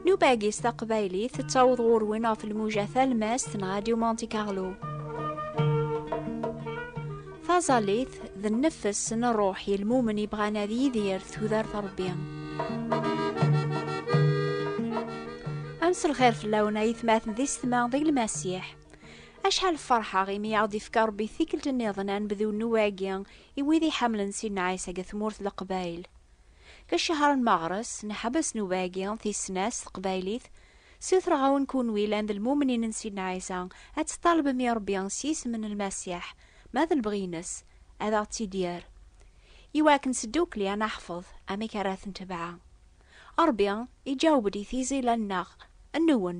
Nubagis taqbaylit tettaweḍ ɣur-wen ɣef lmuja talmast n Radio Monte Carlo. Taẓallit d nnefs n ṛṛuḥ i lmumen ibɣan ad yidir tudert Ṛebbi. Am s lxir fell-awen ay tmaten di setma di lmasiḥ. Acḥal ferḥeɣ imi i aɣ-d-ifka Rebbi tikkelt nniḍen ad nebdu nnuba-agi i wid iḥemmlen Sidna Ɛisa deg tmurt n Leqbayel. Deg ccehṛ-en Meɣres, nḥebbes nnuba-agi, tis-sna, s teqbaylit. Ssutreɣ-awen kunwi llan d lmumnin n Sidna Ɛisa, ad teṭṭalbem i Rebbi s yisem n Lmasiḥ, ma d lebɣi-ines, ad aɣ-tt-id-yerr. I wakken seddukkli ad neḥfeḍ amek ara t-ntebɛa. Rebbi iǧaweb-d i tizi-la-nneɣ, nwen,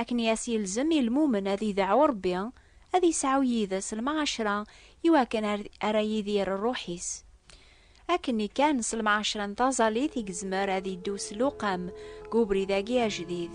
Akken i as-yelzem i lmumen ad ideɛɛu Ṛebbi, ad yesɛu yid-s lemɛacra i wakken ara yidir ṛṛuḥ-is. Akkenni kan s lemɛacra n taẓallit i yezmer ad yeddu s lewqam deg ubrid-agi ajdid.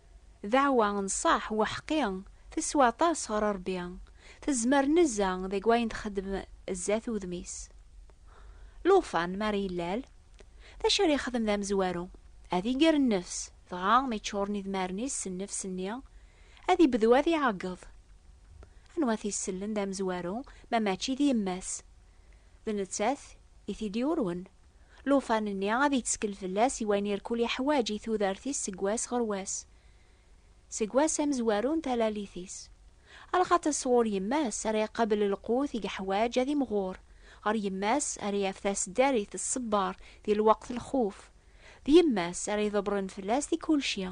Daɛwa n ṣṣeḥ u aḥeqqi teswa aṭas ɣer Rebbi, tezmer nezza deg wayen txeddem zdat udem-is. Lufan mi ara yellal, d acu ara yexdem d amezwaru? Ad iger nnefs, dɣa mi ččuren idmaren-is s nnefs-nni, ad ibdu ad iɛeggeḍ. Anwa i t-isellen d amezwaru ma mačči d yemma-s? D nettat i t-id-yurwen. Lufan-nni ad yettkel fell-as i wayen irkul yeḥwaǧ i tudert-is seg wass ɣer wass, seg wass amezwaru n talalit-is. Lxaṭ-is sɣur yemma-s ara iqabel lqut i yeḥwaǧ ad imɣur ɣer yemma-s, ara yaf taseddarit tṣebber di lweqt n lxuf, d yemma-s ara iḍebren fell-as di kulci.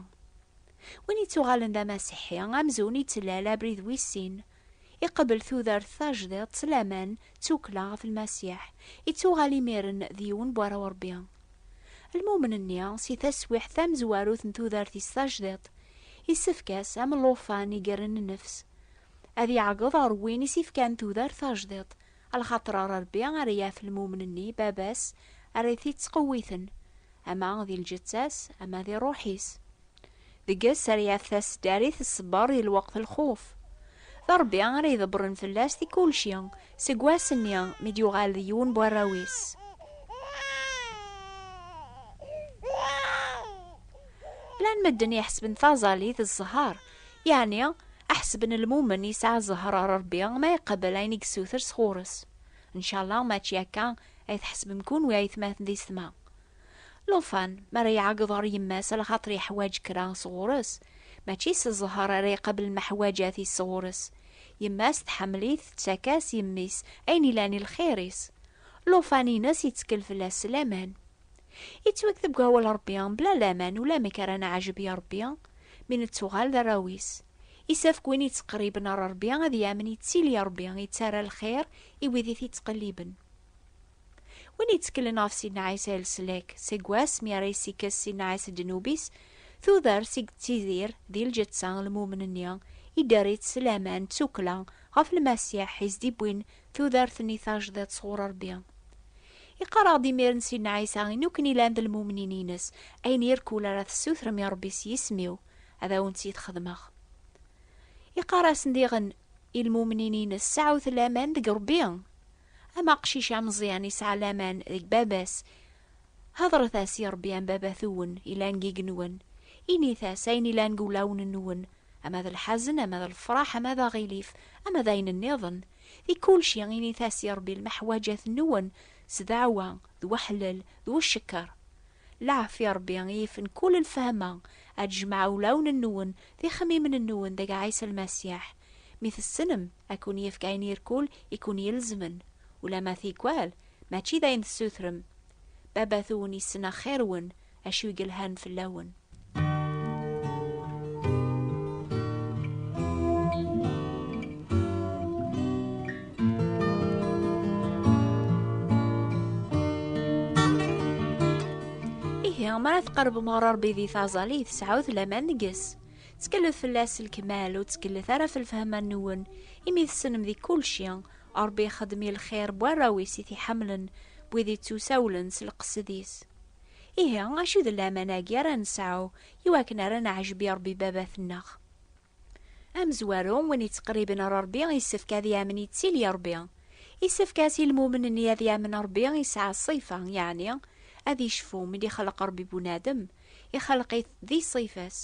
Win yettuɣalen d amasiḥi amzun yettlal abrid wis sin, Iqebbel tudert tajdiṭ s laman d tukkla ɣef Lmasiḥ, ittuɣal imiren d yiwen n warraw n Rebbi. Lmumen-nni, si taswiḥt tamezwarut n tudert-is tajdiṭ, issefk-as, am llufan igerren nnefs, ad iɛeggeḍ ɣer win i s-ifkan tudert tajdiṭ, lxaṭer ɣer Rebbi ara yaf lmumen-nni, Baba-s ara t-ittqewwiten, ama di lǧetta-s, ama di rruḥ-is. Deg ass ara yaf taseddarit tṣebber di lweqt n lxuf. D Rebbi ara iḍebbren fell-as di kulci, seg wass-nni mi d-yuɣal d yiwen n warraw-is. Llan medden iḥesben taẓallit d zzher, yeɛni ḥesben lmumen yesɛa zzher ɣer Rebbi ma iqebbel ayen i yessuter sɣur-s. Ncallah mačči akka ay tḥesbem kunwi a aytmaten di setma. Lufan, mi ara iɛeggeḍ ɣer yemma-s lxaṭer yeḥwaǧ kra sɣur-s, mačči s zzher ara iqabel lmeḥwaǧat-is sɣur-s. Yemma-s tḥemmel-it, tettak-as, yemmi-s, ayen ilan i lxir-is. Lufan-ines yettkel fell-as s laman. Ittweg deg wawal Rebbi, bla laman ulamek ara neɛjeb i Rebbi, mi nettuɣal d arraw-is. Isefk win yettqerriben ɣer Rebbi ad yamen yettili Rebbi yettarra lxir i wid i t-yettqelliben. Win yetteklen ɣef Sidna Ɛisa i leslak, seg wass mi ara yessikkes Sidna Ɛisa ddnub-is, tudert i yettidir di lǧetta n lmumen-nni, idder-itt s laman d tukkla ɣef Lmasiḥ i s-d-iwwin tudert-nni tajdiṭ sɣur Rebbi. Iqqar-aɣ-d imiren Sidna Ɛisa i nukken ilan d lmumnin-ines, Ayen irkul ara tessutrem i Rebbi s yisem-iw, ad awen-tt-id-xedmeɣ. Iqqar-asen diɣen i lmumnin-ines, Sɛut laman deg Rebbi! Am aqcic ameẓyan yesɛa laman deg baba-s, hedret-as i Ṛebbi am baba-twen yellan deg yigenwen, init-as ayen yellan deg wulawen-nwen, ama d lḥazen, ama d lefṛaḥ, ama d aɣilif, ama d ayen nniḍen. Di kulci, init-as i Ṛebbi lmeḥwaǧat-nwen s ddeɛwa, d weḥlel, d ucekker. Lɛafya Rebbi i yifen kull lfehma, ad d-jemɛeɣ ulawen-nwen d ixemmimen-nwen deg Ɛisa Lmasiḥ. Mi tessenem, ad ken-yefk ayen irkul i ken-ilezmen, ulamma tikwal mačči d ayen tessutrem. Baba-twen yessen axir-wen, acu i yelhan fell-awen. ma ara tqerbem ɣer Rebbi di taẓali tesɛut laman deg-s. Ttkellef fell-as lkemal ur ttkellef ara f lfehma-nwen, imi tessnem di kulci. Rebbi ixeddem i lxir n warraw-is i t-iḥemmlen, n wid ittusawlen s lqesd-is. Ihi, acu d laman-agi ara nesɛu i wakken ara neɛjeb i Ṛebbi Baba-tneɣ? Amezwaru, win yettqerriben ɣer Ṛebbi yessefk ad yamen yettili Ṛebbi. Yessefk-as i lmumen-nni ad yamen Ṛebbi yesɛa ṣṣifa, yeɛni ad yecfu mi d-ixleq Ṛebbi bunadem, ixleq-it di ṣṣifa-s.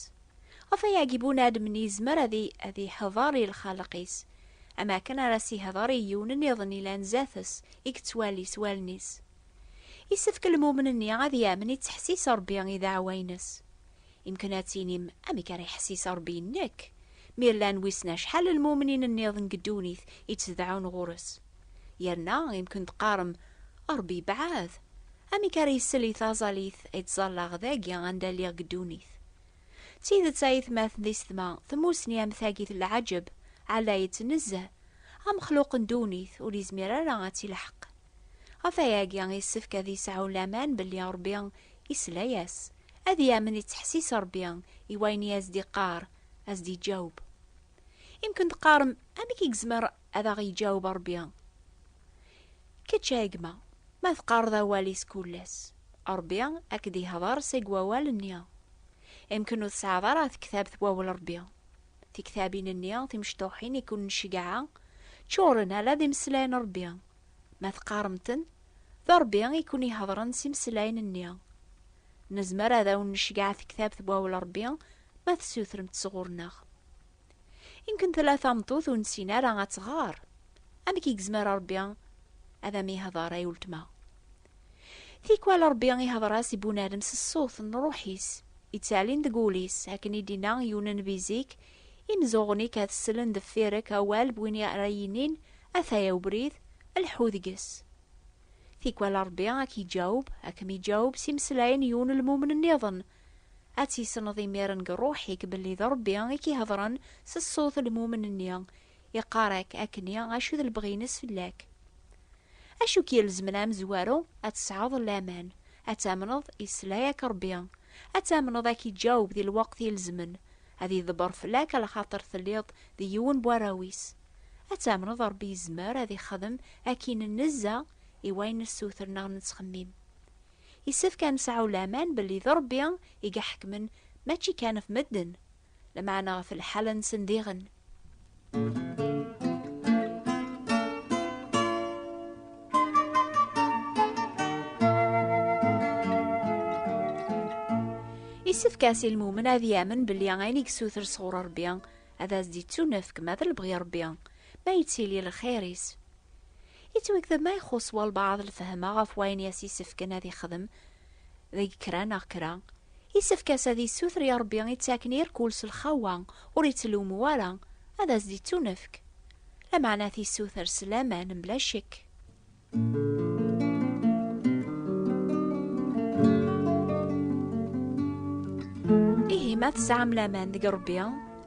Ɣef wayagi bunadem-nni yezmer ad iḥḍer i lxaleq-is, am wakken ara s-iḥḍer i yiwen nniḍen yellan zdat-s, i yettwali s wallen-is. Isefk lmumen-nni ad yamen i ttḥessis Rebbi i dɛawa-ines. Imken ad tinim, Amek ara iḥessis Rebbi i nekk, mi llan wissen acḥal n lmumnin nniḍen deg ddunit i ttedɛun ɣur-s? Yerna imken teqqarem, Rebbi yebɛed! Amek ara isel i taẓalit ay ttẓallaɣ dagi anda lliɣ deg ddunit? D tidet a aytmaten d isetma, tmusni am tagi d lɛaǧeb, ɛlayet nezzeh, amexluq n ddunit ur yezmir ara ad tt-ilḥeq. Ɣef wayagi yessefk ad yesɛu laman belli Ṛebbi yesla-as, ad yamen yettḥessis Ṛebbi i wayen i as-d-iqqar, ad as-d-yeǧaweb. Imken teqqarem, Amek i yezmer ad aɣ-yeǧaweb Ṛebbi? Kečč a gma, ma teqqareḍ awal-is kul ass, Ṛebbi a k-d-yehder seg wawal-nni. Imken ur tesɛiḍ ara tektabt Wawal Ṛebbi. Tiktabin-nni timecṭuḥin i ken-nceggeɛ ččuren ala d imeslayen n Ṛebbi. Ma teqqarem-ten, d Ṛebbi i ken-iheḍren s imeslayen-nni. Nezmer ad awen-necgeɛ tektabt n Wawal Ṛebbi ma tessutrem-tt sɣur-neɣ. Imken tella tameṭṭut ur nessin ara ad tɣer. Amek i yezmer Ṛebbi ad am-ihḍer ay uletma? Tikwal Ṛebbi ihdeṛ-as i bunadem s ṣṣut n Ṛuḥ-is, ittɛelin deg wul-is, akken i d-inna i unenbi zik, Imzuɣen-ik ad slen deffir-ek awal n win i ara yinin, Ataya ubrid, lḥu deg-s. Tikwal Ṛebbi a k-iǧaweb, a kem-iǧaweb s imeslayen n yiwen n lmumen nniḍen. Ad tisneḍ imiren deg ṛuḥ-ik belli d Ṛebbi i k-ihedṛen s ṣṣut n lmumen-nni Iqqar-ak akk-nni acu d lebɣi-ines fell-ak. Acu k-yelzmen a amezwaru? Ad tesɛeḍ laman, ad tamneḍ yesla-ak Rebbi, ad tamneḍ a k-iǧaweb di lweqt ilezmen, ad iḍebber fell-ak alaxaṭer telliḍ d yiwen n warraw-is. Ad tamneḍ Rebbi yezmer ad ixdem akin nnezza i wayen nessuter neɣ nettxemmim. Yessefk a nesɛu laman belli d Rebbi i iḥekmen mačči kan ɣef medden, Lameɛna ɣef lḥal-nsen diɣen. Isefk-as i lmumen ad yamen belli ayen i yessuter sɣur Rebbi ad as-d-ittunefk ma d lebɣi Rebbi, ma yettili lxir-is. Yettwagdeb ma ixuṣṣ walbaɛḍ lfehma ɣef wayen i as-isefken ad ixdem, deg kra neɣ kra, yessefk-as ad yessuter i Ṛebbi ittaken irkul s lxawa ur ittlummu ara, ad as-d-ittunefk. Lameɛna tissuter s laman mebla ccekk. Ihi ma tesɛam laman deg Ṛebbi,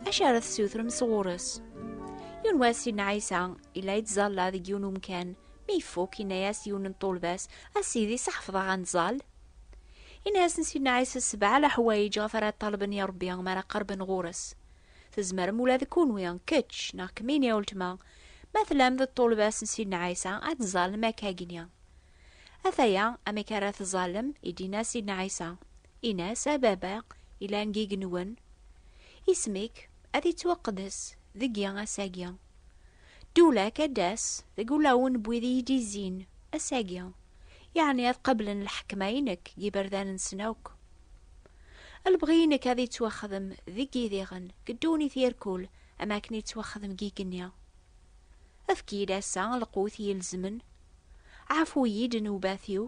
acu ara tessutrem sɣur-s? Yiwen wass Sidna Ɛisa yella yettẓalla deg yiwen umkan Mi ifuk, inna-yas yiwen n ṭṭulba-s, A Sidi, s ḥefḍeɣ ad nẓall? Inna-yasen Sidna Ɛisa, Sebɛa leḥwayeǧ ɣef ara ṭṭalben i Ṛebbi mi ara qerben ɣur-s. Tzemrem ula d kunwi, kečč neɣ kemmini a uletma, ma tellam d ṭṭulba-s n Sidna Ɛisa, ad tẓallem akkagi. Ataya amek ara tẓallem, i d-inna Sidna Ɛisa, Inna-as, A Baba, ilan n yigenwen, isem-ik ad ittwaqeddes deg-i ass-agi. Dulak ad d-tas deg ulawen n wid i yi-d-izzin ass-agi, yeɛni ad qablen lḥekma-inek deg yiberdan-nsen akk. Lebɣi-inek ad yettwaxdem deg yidiɣen, deg ddunit irkul, am akken yettwaxdem deg yigenni. Efk-iyi-d ass-a lqut ilezmen, ɛfu-yi-d nnewbat-iw,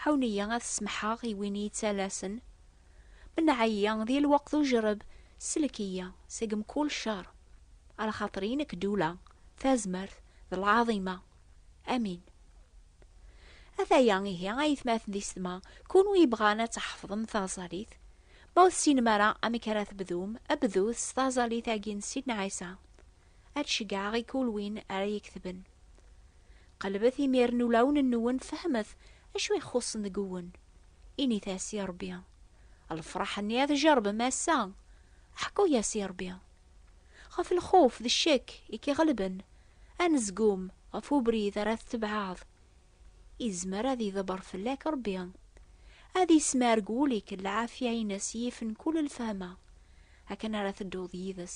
ɛawen-iyi ad semmḥeɣ i win i yi-ttalasen, Menɛeyya di lweqt ujereb, sellek-iyi seg mkul ccer, a lxaṭer i nekk ddula, tazmert, d lɛaḍima. Amin. Ataya ihi a yetmaten d isetma, kunwi yebɣan ad tḥefḍem taẓalit, ma ur tessinem ara amek ara tebdum, bdut s taẓalit-agi n Sidna Ɛisa, ad ceggɛeɣ i kul win ara yeketben. Qelbet imir n ulawen-nwen fehmet acu i xuṣṣen deg uwen. Init-as i Rebbi, Lefraḥ-nni ad jerbem ass-a, ḥku-yas i Rebbi. Ɣef lxuf d ccek i k-iɣelben, anezgum ɣef ubrid ara tetebɛeḍ, izmer ad iḍebber fell-ak Rebbi, ad ismerg wul-ik lɛafya-ines yifen kul lfehma, akken ara tedduḍ yid-s.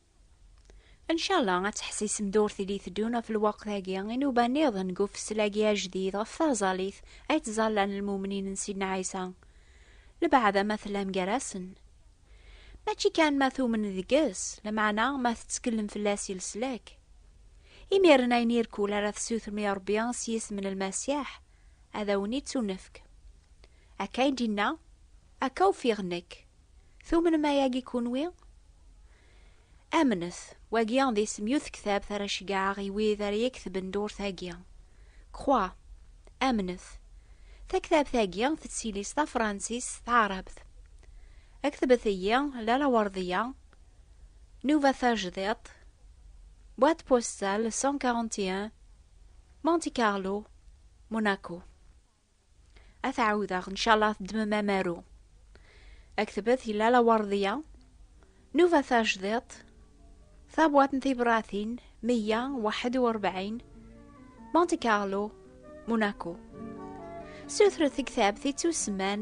Ncala ad teḥsisem d ur tili teddun ɣef lweqt-agi inuba nniḍen deg ufeslagi ajdid ɣef taẓallit ay ttẓallan lmumnin n Sidna Ɛisa, lbaɛda ma tellam gar-asen. Mačči kan ma tumnen deg-s, lameɛna ma tettkellem fell-as i leslak. Imiren ayen irkul ara tessutrem i Ṛebbi s yisem n Lmasiḥ, ad awen-ittunefk. Akka ay d-yenna, Akka ufiɣ nekk. Tumnem ayagi kunwi? Amnet, wagi d isem yut ktabt ara ceggɛeɣ i wid ara yektben durt-agi. Croix, amnet. Taktabt-agi tettili s tafransist s taɛrabt. Ktbet-iyi Lalla Werdiya, Nuva Tajdiṭ, boîte postale 141, Monte Carlo, Monaco. ad t-ɛawdeɣ ncalla teddmem amaru aktbet yella la wardiya nuba tajdiṭ tabwat n tibratin 141 Monte Carlo Monaco sutret ktabt ittusemman